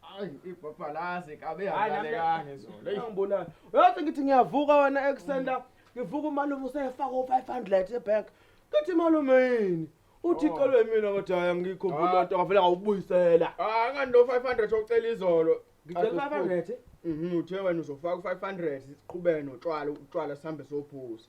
Hayi ibhabhalazi kabe yalalekanga izolo. Hey ngibonani. Uyathi ngithi ngiyavuka wena eksenda ngivuka umalume usefaka u500 ebank. Ngithi malume yini? Uthi oh. icelwe mina ngathi hayi ngikho ngibona ah. nto ngavela ngawubuyisela. Ah ngani lo 500 ocela izolo. Ngicela 500. Mhm uthe wena uzofaka u500 siqhubeke notshwala utshwala sihambe sophuza.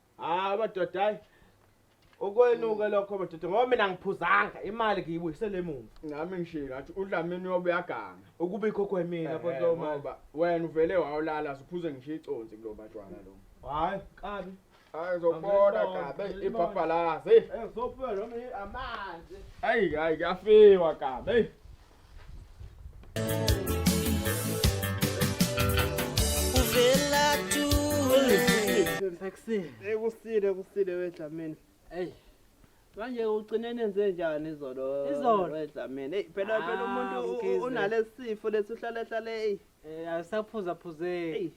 hayi madoda hayi ukwenuke lokho madoda ngoba mina ngiphuzanga imali ngiyibuyisele emuva nami ngishilo ngathi udlamini uyobe uyaganga ukubikho kwemina bontoba wena uvele wawulala siphuze ngisho iconsi kulo batshwana lo hayi kabi hayi zobona kabe ibhabhalazi eh, eh, ezophela noma amanzi hayi hayi kuyafiwa kabe Ekusile. Ekusile kusile wedlamini. Ey. Manje ugcine nenze njani izolo? Izolo wedlamini. Ey phela phela ah, umuntu unalesifo lesi uhlale hlale ey. Eh asaphuza phuzeki.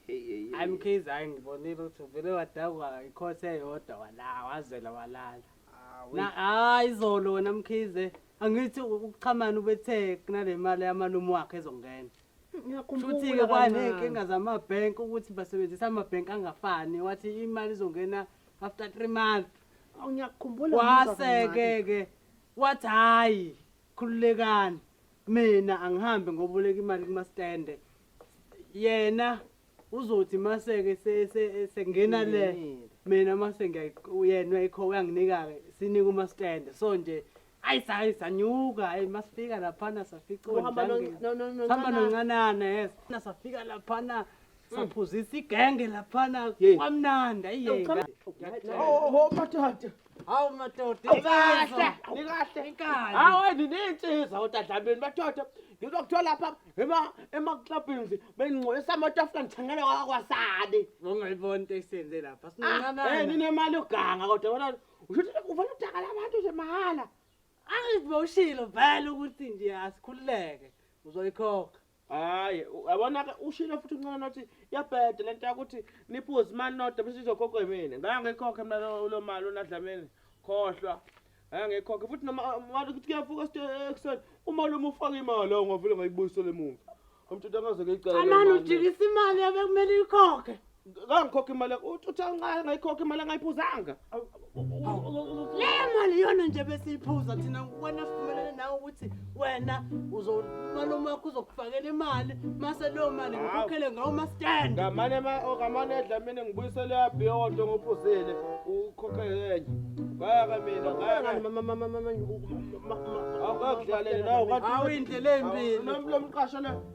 Hayi mkhize hayi ngibonile ukuthi uvele wadakwa ikhothe eyodwa wala wazela walala. Ah, na hayi izolo wena mkhize. angithi ukuchamana ubethe kunale mali yamalume wakhe ezongena futhi-ke kwaney'nkinga zamabhenki ukuthi basebenzisa amabhenki angafani wathi imali izongena after three month wase-ke-ke wathi hhayi khululekani mina angihambe ngoboleka imali kumastende yena uzothi maseke sengena le mina mase ngiyena ikho uyanginika-ke sinika umaskende so nje ayi sayi sanyuka ayi masifika laphana saficohamba noncanana yes safika laphana hmm. saphuzisa igenge laphana kwamnandi ayiyeathi Hawu madoda, Awukahle, awukahle. Inkani. Hawu wena ninsiza odadlamini madoda. Ngizokuthola lapha ema ema clubs bengingcolisa amatafula ngithengele kwa- kwasani. Ungayiboni into esiyenze lapha. Ah, eh Sinqanana. ninemali yoganga kodwa wena usho ukuthi ufuna utakala abantu nje mahhala. Angiziboshilo vele ukuthi nje asikhululeke. Uzoyikhokha. hayi yabona ke ushilo futhi uncane nothi yabhede lento yakuthi niphuze imali nodwa bese izokhokha yimina ngeke ngikhokhe mina lo- lo mali unadlamini khohlwa ngeke ngikhokhe futhi noma mali ukuthi kuyavuka st- ekuseni uma lo mufaka imali awu ngavele ngayibuyisele emuva umthetho angaze ngiyicele Amani ujikisa imali yabe kumele ikhokhe. kangikhokha imali uthi uthi angayi ngayikhokha imali angayiphuzanga leyo mali iyona nje besiyiphuza thina wena sivumelene nawe ukuthi wena uzomalume wakho uzokufakela imali mase leyo mali ngikhokhele ngawo mastand ngamane ngamane edla mina ngibuyisele yabhiyodo ngophuzile ukhokhe enye bayaka mina bayaka awuyindlela embi nomqasho le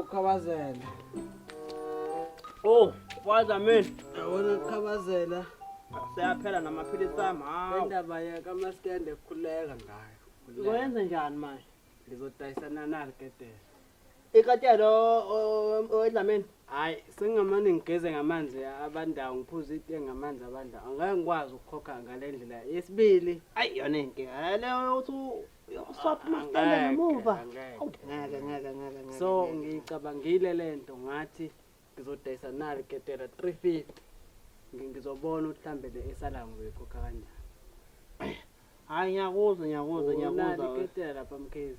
Ukhabazela. Oh, waza mina. Yabona ukhabazela. Seyaphela namaphilisi ami. Hawu. Indaba yaka maskende khuleka ngayo. Uzoyenza njani manje? Ngizodayisana nalo ketela. Ikatelo wedlameni. Hayi, sengamane ngigeze ngamanzi abandawo, ngiphuze itiye ngamanzi abandawo. Angeke ngikwazi ukukhokha ngale ndlela. Yesibili, ayi yona inkinga. Leyo uthi uyokuswapha umasitende Angeke, ngemuva angeke, Awu, ngeke ngeke ngeke ngeke so ngeke. ngiyicabangile le nto ngathi ngizodayisa nali ketela 350 Ngi- ngizobona ukuthi mhlawumbe le esalayo ngizoyikhokha kanjani hayi ngiyakuzwa ngiyakuzwa Unali ngiyakuzwa we. iketela lapha mkhize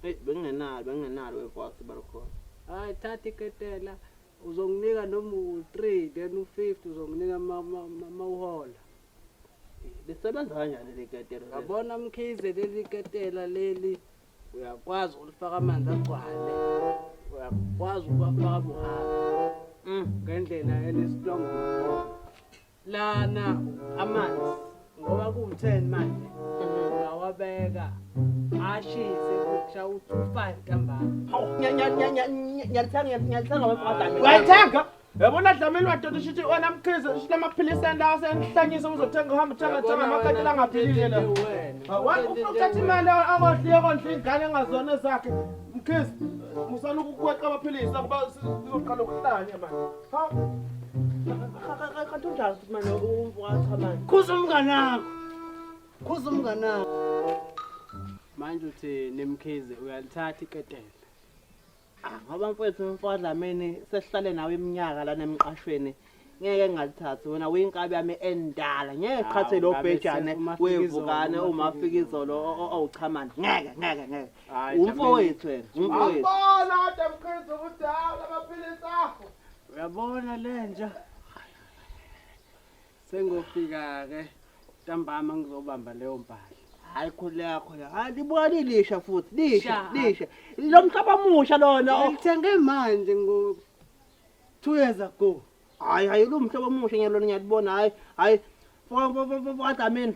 Eyi, bengingenalo bengingenalo webhasi balukhona hayi thatha iketela uzonginika noma u-three then u-fifty uzonginika ma- ma- ma- mawuhola lisebenza kanjani le ketela le? yabona mkhize leli ketela leli uyakwazi ukulifaka amanzi agcwale uyakwazi ukuwafaka buhaba Mm. ngendlela enesitrongo ngakhona lana amanzi ngoba kuwu-ten manje ungawabeka ashise kusha u-two five ntambama Hawu, nya- nya- nya- nya- nya- ngiyalithenga, ngiyalithenga wena, madam. Wayithenga? Yabona Dlamini madoda ushithi wena mkhize ushithi amaphilisi enda asenhlanyisa uzothenga uhamba uthenga thenga amakatela angaphilile la. Wena ufuna ukuthatha imali akondliye kondla ingane engazona zakhe. Mkhize musana ukukweqa amaphilisi akuba sizoqala ukuhlanya manje. Ha. Kanti unjani futhi manje uwacha manje? Khuza umngane wakho. Khuza umngane wakho. Manje uthi nemkhize uyalithatha iketela. Ah, ngoba mfowethu mfodlamini sesihlale nawe iminyaka lana emqashweni ngeke ngalithathi wena uyinkabi yami endala ngeke qhathe lo ngabe bhejane sesi- uMafika izolo, wevukane uMafika umafika izolo o- o- owuchamani ngeke ngeke ngeke Hhayi, umfowethu wena umfowethu Wabona kodwa mkhize ukuthi hawu lamaphilisi akho. Uyabona lenja. Sengofika-ke ntambama ngizobamba leyo mpahla. Hayi khona yakho la. Hayi libuka lilisha futhi. Lisha, Sha. lisha. Lo mhlaba omusha lona. o- Ngithenge manje ngo two years ago. Hayi hayi lo mhlaba omusha ngiyalona ngiyalibona. Hayi hayi. Fo fo fo fo adamini.